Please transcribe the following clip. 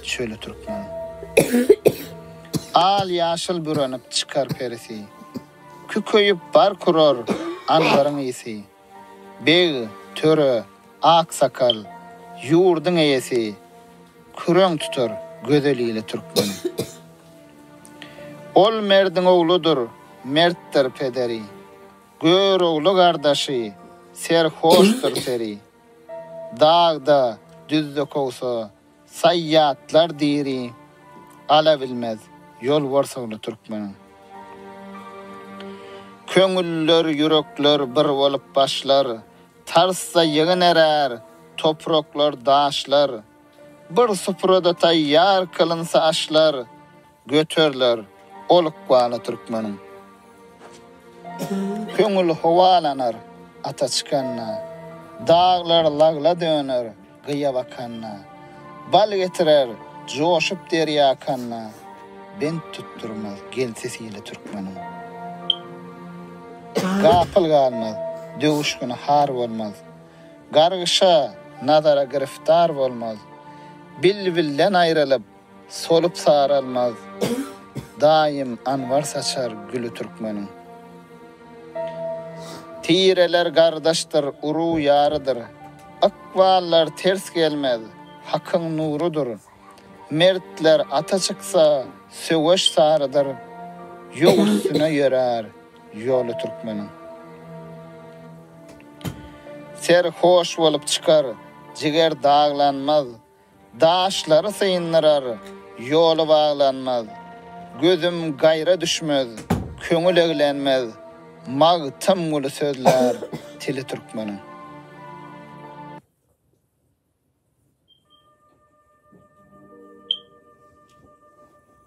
Şöyle Türkmen. Al ýaşyl bürenip çykar perisi. Kükeýip bar kurar andaryň isi. Beg, töre, aksakal, ýurdyň eýesi, Küreň tutar gözel ile türkmen. Ol merdiň ogludyr, mertdir pederi, Görogly gardaşy, serhoşdyr seri. Dagda, düzde kowsa, Saýýatlar diri gala bilmez, ýol borsagly türkmeniň. Köňüller, ýürekler bir bolup başlar, tarsda ýygynerär topraklar, daşlar. Bir suprada taýýar kylynsa aşlar, Göteriler ol ykbaly türkmeniň. Köňül howalanar ata çykanda, Daglar lagla döner gyýa bakanda, Bal getirer joşup derýa akanda, Bent tutdurmaz gelsi sili türkmeniň. Gapyl galmaz, döwüşgini har bolmaz, Gargyşa, nazara giriftar bolmaz, Bilbilden aýrylyp, Solup saralmaz daýym anwar saçar güli türkmeniň. Tireler gardaşdyr, urug ýarydyr, ykballar ters gelmez, hakyň nurudyr. Mertler ata çyksa, söweş sarydyr, ýok üstüne ýörär ýoly türkmeniň. Ser hoş bolup çykar, jiger daglanmaz. Daşlary syndyrar, ýoly baglanmaz, Gözüm gaýra düşmez, köňül eglenmez, Magtym Guly sözlär tili türkmeniň.